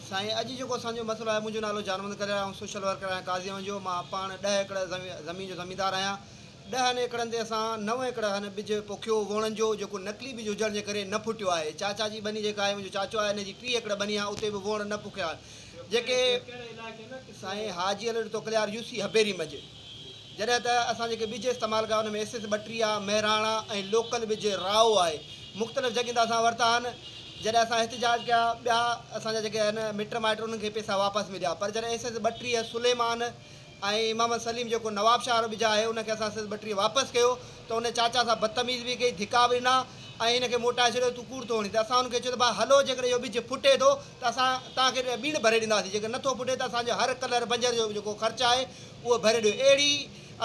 سائين اڄ جيڪو اسان جو مسئلو آهي منهنجو نالو جانوند ڪريل آهي آئون سوشل ورڪر آهيان قاضيائون جو مان پاڻ ڏهه ايڪڙ زمين جو زميندار آهيان ڏهه هن ايڪڙن تي اسان نو ايڪڙ هن ٻج پوکيو ووڻن جو جيڪو نقلي ٻج هجڻ جي ڪري نه ڦٽيو آهي چاچا جي ٻني جيڪا آهي منهنجو چاچو آهي هن جي ٽي ايڪڙ ٻني آهي اتي به ووڻ نه پوکيا آهن جيڪي سائين حاجي علي توڪليار يوسي هبيري مجي. جڏهن ته اسان جيڪي ٻج استعمال ڪيا ان ۾ ايس ايس ٻٽيهه، مهراڻا ۽ لوڪل ٻج راء آهي. مختلف جڳهين تان اسان ورتا آهن. جڏهن اسان احتجاج ڪيا ٻيا اسان جا جيڪي آهن مٽ مائٽ انهن کي پئسا واپس مليا پر جڏهن ايس ايس ٻٽيهه، سليمان ۽ محمد سليم جيڪو نواب شاهه وارو ٻج آهي ان کي اسان ايس ايس ٻٽيهه واپس ڪيو ته ان چاچا سان بدتميز به ڪئي، ڌڪا به ڏنا ۽ هن کي موٽائي ڇڏيو ته تون ڪوڙ ٿو هڻين ته اسان هن کي چيو ته ڀاء هلو جيڪڏهن اهو ٻج ڦٽي ٿو ته اسان توهان کي ٻيڻ ڀري ڏينداسين جيڪر نه ٿو پٽي ته اسان جو هر ڪلهر بنجر جو جيڪو خرچ آهي اهو ڀري ڏيو اهڙي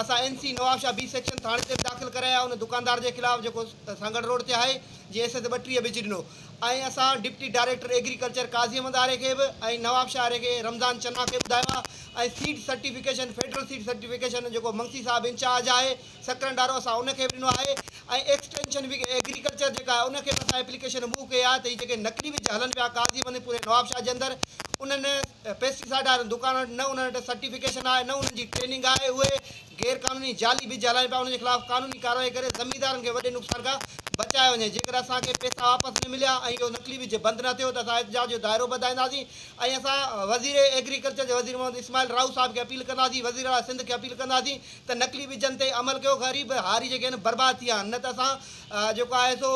اسان N C Nawabshah B section ٿاڻي تي به داخل ڪرايا ان دڪاندار جي خلاف جيڪو سانگهڙ روڊ تي آهي جنهن ايس ايس ٻٽيهه وجهي ڏنو ۽ اسان deputy director agriculture Qazi Ahmed آري کي به ۽ نوابشاهه آري کي رمضان چنا کي ٻڌايو آهي ۽ seed certification federal seed certification جيڪو منگسي صاحب انچارج آهي سڪرنڊ وارو اسان ان کي به ڏنو آهي ۽ ايڪسٽينشن وگ ايگريڪلچر جيڪا آهي ان کي به اسان ايپليڪيشن موو ڪئي آهي ته هي جيڪي نقلي وج هلن پيا قاضي بني پوري نوابشاهه جي اندر انهن پيسٽيسائيڊ وارن دڪانن وٽ نه انهن وٽ سرٽيفڪيشن آهي نه انهن جي ٽريننگ آهي اهي غير قانوني جعلي وج هلائين پيا انهن جي خلاف قانوني ڪارروائي ڪري زميندارن کي وڏي نقصان کان بچايو وڃي جيڪڏهن اسان کي پيسا واپس نه مليا ۽ اهو نقلي وج بند نه ٿيو ته اسان احتجاج جو دائرو به وڌائينداسين ۽ اسان وزير ايگريڪلچر جي وزير محمد اسماعيل راهو صاحب کي اپيل ڪنداسين وزيراعليٰ سنڌ کي اپيل ڪنداسين ته نقلي ٻجن تي عمل ڪيو غريب هاري جيڪي آهن برباد ٿي ويا آهن نه ته اسان جيڪو آهي سو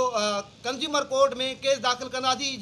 ڪنزيومر ڪورٽ ۾ ڪيس داخل ڪنداسين